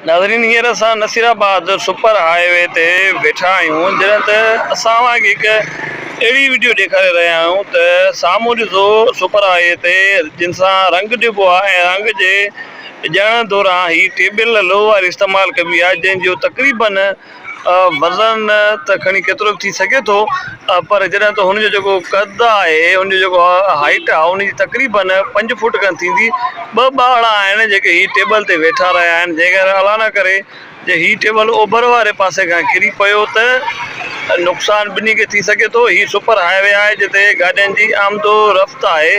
ناظرين هينئر اسان Naseerabad super highway تي ويٺا آهيون جڏهن ته اسان اوهان کي هڪ اهڙي وڊيو ڏيکاري رهيا آهيون ته سامهون ڏسو سپر هاء وي تي جن سان رنگ ڏبو آهي ۽ رنگ جي ڏيڻ دوران هي ٽيبل لوهه واري استعمال ڪبي آهي جنهن جو تقريبن وزن ته کڻي ڪيترو به ٿي سگهي ٿو پر جڏهن ته هن جو جيڪو قد آهي هن جو جيڪو هائيٽ آهي ان جي تقريبن پنج فوٽ کن ٿيندي ٻه ٻارڙا آهن جيڪي هي ٽيبل تي ويٺا رهيا آهن جنهن ڪري الله نه ڪري جي هي ٽيبل اوڀر واري پاسي کان ڪري پيو ته نقصان ٻنهي کي ٿي سگهي ٿو هي سپر هاء وي آهي جتي گاڏين جي آمدو رفت آهي.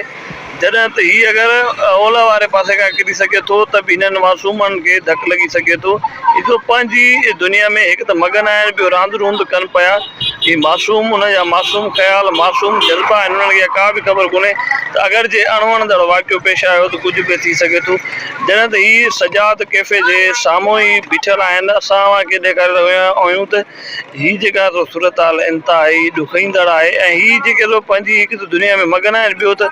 جڏهن ته هي اگر اولهه واري پاسي کان ڪري سگهي ٿو ته به هنن معصومن کي ڌڪ لڳي سگهي ٿو. هي سو پنهنجي دنيا ۾ هڪ ته مگن آهن ٻيو راند روند ڪن پيا. هي معصوم انهن جا معصوم خيال، معصوم جذبا آهن انهن کي اها ڪا به خبر ڪونهي ته اگر جي اڻوڻندڙ واقعو پيش آيو ته ڪجهه به ٿي سگهي ٿو. جڏهن ته هي سجاد ڪيفي جي سامهون ئي بيٺل آهن اسان اوهان کي ڏيکاري رهيا آهيون ته. هي جيڪا سو صورتحال انتهائي ڏکئيندڙ آهي ۽ هي جيڪي سو پنهنجي هڪ ته دنيا ۾ مگن آهن ٻيو ته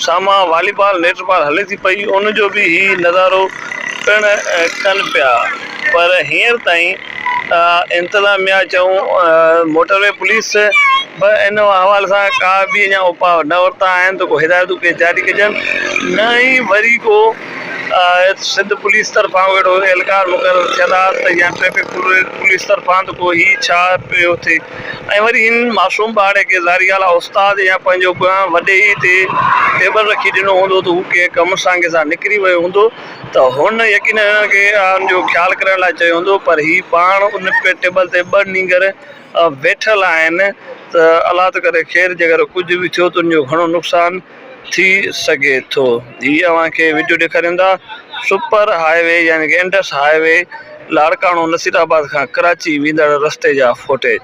سامهان والي بال نيٽ بال هلي ٿي پئي ان جو به هي نظارو پڻ ڪن پيا پر هينئر تائين انتظاميا چئون موٽروي پوليس به ان حوالي سان ڪا به اڃا اپاء نه ورتا آهن ته ڪو هدايتون ڪي جاري ڪجن نه ئي وري ڪو ايت سنڌ پوليس طرفان اهڙو اهلڪار مقرر ٿيل آ ته يا ٽريفڪ پوليس طرفان ته پوء هي ڇا پيو ٿئي ۽ وري هن معصوم ٻارڙي کي ظاهريالا استاد يا پنهنجو ڪنهن وڏي ئي تي ٽيبل رکي ڏنو هوندو ته هو ڪنهن ڪم سانگي سان نڪري ويو هوندو ته هن يقينن هن کي ان جو خيال ڪرڻ لاء چيو هوندو پر هي پاڻ ان ٽيبل تي ٻه نينگر ويٺل آهن ته الله ته ڪري خير جيڪر ڪجهه به ٿيو ته ان جو گهڻو نقصان ٿي سگهي ٿو. هي اوهان کي وڊيو ڏيکارين ٿا سپر هاء وي يعني ڪه Indus highway Larkana Naseerabad کان ڪراچي ويندڙ رستي جا فوٽيج.